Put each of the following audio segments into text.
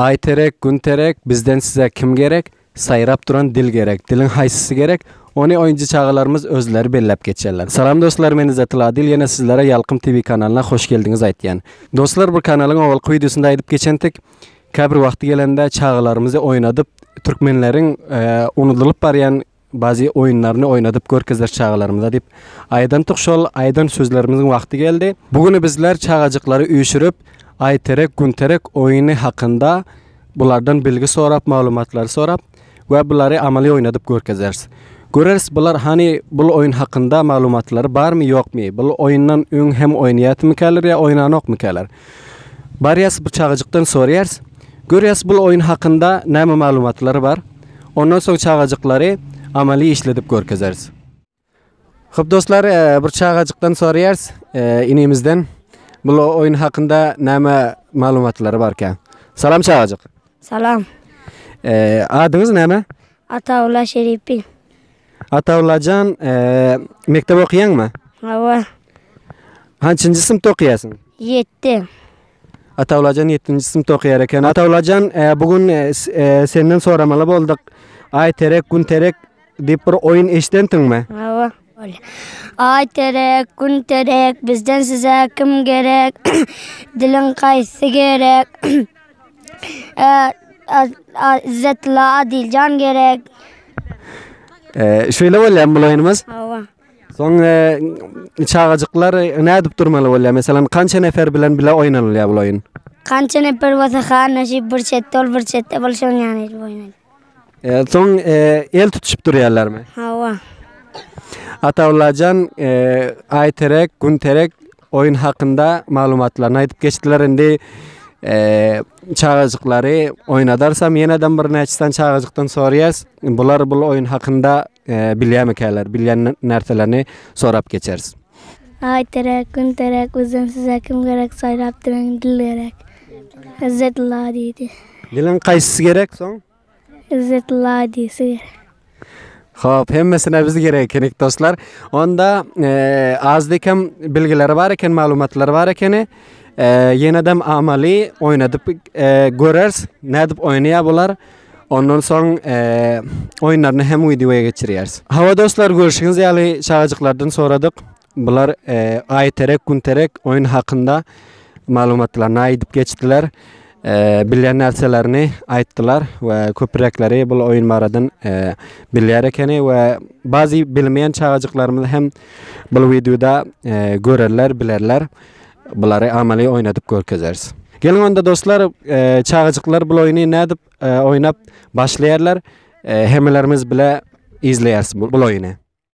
Aý terek, gün terek, bizden size kim gerek, saýrap duran dil gerek, diliň haýsysy gerek, ony oýunjy çagalarymyz özleri belläp geçýärler. Salam dostlar men Yzatyl Adil ýene sizlere Ýalkym TV kanalyna hoş geldiňiz aýtýan. Dostlar bir kanalyň owalky wideosynda aýdyp geçentik käbir wagty gelende çagalarymyzy oýnadyp türkmenleriň unudylyp barýan Bazi oýunlaryny oýnadyp görkezer çagalarymyza diýip aýdantyk şol aýdan sözlerimiziň wagty geldi. Bu güni bizler çagajyklary üýşürip Aýterek Günterek oýuny hakynda bulardan bilgi sorap maglumatlary sorap we bulary amaly oýnadyp görkezeris. Göreris bular hany bul oýun hakynda maglumatlary barmy ýokmy bul oýundan öň hem oýnaýatmykäler ýa oýnanokmykäler. Barýas bir çagajykdan sorýars, görýäs bul oýun hakynda näme maglumatlary bar, ondan soň çagajyklary amaly işledip görkezeris. Köp dostlar bir çagajykdan sorýars, inimizden bul oýun hakynda näme maglumatlary barkä. Salam çagajyk. Salam. Adyňyz näme? Atawulla Şeripin. Atawullajan mekdep okýaňmy? Hawa. Hançynjy synpda okaýarsyň? Ýetti. Atawlajan ýettinji synpda okaýar eken. Atawlajan, bu gün senden soramaly bolduk. Aý terek, gün terek diýip bir oýun eşidensiňmi? Hawa. Aý terek, gün terek, bizden size kim gerek? Diliň haýsy gerek? Izzetilla Adiljan gerek. Şeýle bolýarmy bul oýnumyz? Hawa. Soň çagajyklar nädip durmaly bolýar? Meselem, kança nefer bilen bile oýnalýar bu oýun? Kança nefer bolsa han näşe bir çetde ol bir çetde bolup şoň ýaly edip oýnalýar. E, soň e, el tutuşyp durýarlarmy? Hawa. Atallajan, e, Aýterek, Günterek Oýun hakynda maglumatlaryny aýdyp geçdiler. Indi çagajyklary oýnadarsam ýeneden bir näçe sany çagajykdan soraýas. Bular bu oýun hakynda bilýärmikäler? Bilýän närselerini sorap geçeris. Aý terek, gün terek, bizden size kim gerek, saýlap duruň, dil gerek. Izzet Ula diýdi. Diliň kaýsysy gerek soň? Yzzet Ladysy. Hop, hemmesine biz gerek ekenik dostlar. Onda e, az dekem bilgileri bar eken, maglumatlary bar ekeni. E, Yenedem amaly oynadyp e, görers, nädip oýnaýar bular. Ondan soň e, oyunlaryny hem videoya geçirýäris. Hawa dostlar, görüşiňiz ýaly çagajyklardan soradyk. Bular Aýterek, Günterek oýun hakynda maglumatlaryny aýdyp geçdiler. Bilýän närselerini aýtdylar we köpürekleri bu oýun baradan bilýär ekeni we bazy bilmeýän çagajyklarymyz hem bu wideoda görerler, bilerler. Bulary amaly oýnadyp görkezeris. Geliň onda dostlar, çagajyklar bu oýny nädip oýnap başlaýarlar, hemmelerimiz bile izleýäris bu oýny.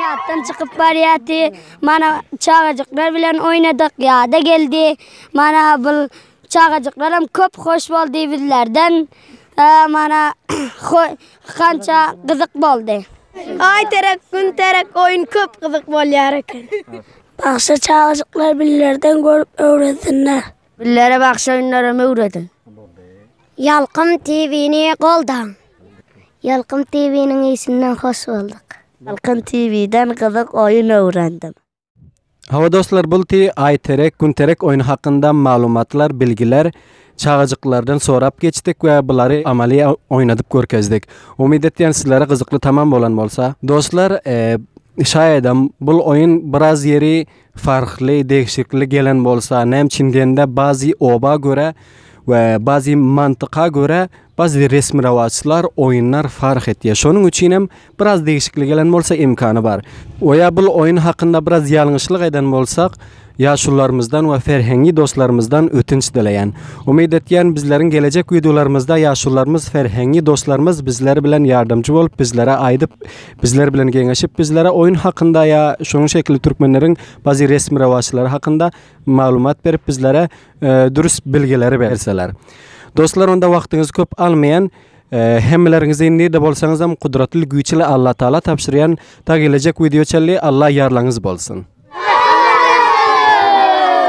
Ýatdan çykyp barýardy. Mana çagajyklar bilen oýnadyk, ýada geldi. Mana bu çagajyklar hem köp hoş boldy bizlerden. Mana kança gyzyk boldy. Aý terek, gün terek oýun köp gyzyk bolýar eken. Bagşa çagajyklar billerden görüp öwrensinler. Billere bagşa oýunlaram öwrediň. Ýalkym TV-ni goldaň. Ýalkym TV-niň işinden hoş bolduk. Ýalkym TV-den gyzyk oýun öwrendim. Hawa dostlar bulti Aýterek Günterek oýny hakynda maglumatlar bilgiler. Çagajyklardan sorap geçdik we bulary amaly oýnadyp görkezdik. Umyt etýän sizlere gyzykly tamam bolan bolsa. Dostlar şaýadam bul oýun biraz ýeri farkly degişikli gelen bolsa näme üçin diýende bazy oba görä we bazy mantyka görä bazy resmi rawaçlar oýunlar fark etýär şonuň üçinem Biraz degişikli gelen bolsa imkany bar. We ýa bul oýun hakynda biraz ýalňyşlyk eden bolsak, ýaşulularymyzdan we ferhengi dostlarymyzdan ötünç dileýän. Umyt etýän bizleriň gelejek wideolarymyzda ýaşulularymyz ferhengi dostlarymyz bizler bilen ýardamçy bolup bizlere aýdyp bizler bilen geňeşip bizlere oýun hakynda ýa şonuň şekilli türkmenleriň bazi resmi rewaçlary hakynda maglumat berip bizlere dürüst bilgileri berseler. Dostlar onda wagtyňyzy köp almaýan Hemmeleriňizi nirde bolsaňyzam gudratly güýçli Alla Taala tabşyrýan ta gelejek wideo çenli Alla ýarlaňyz bolsun.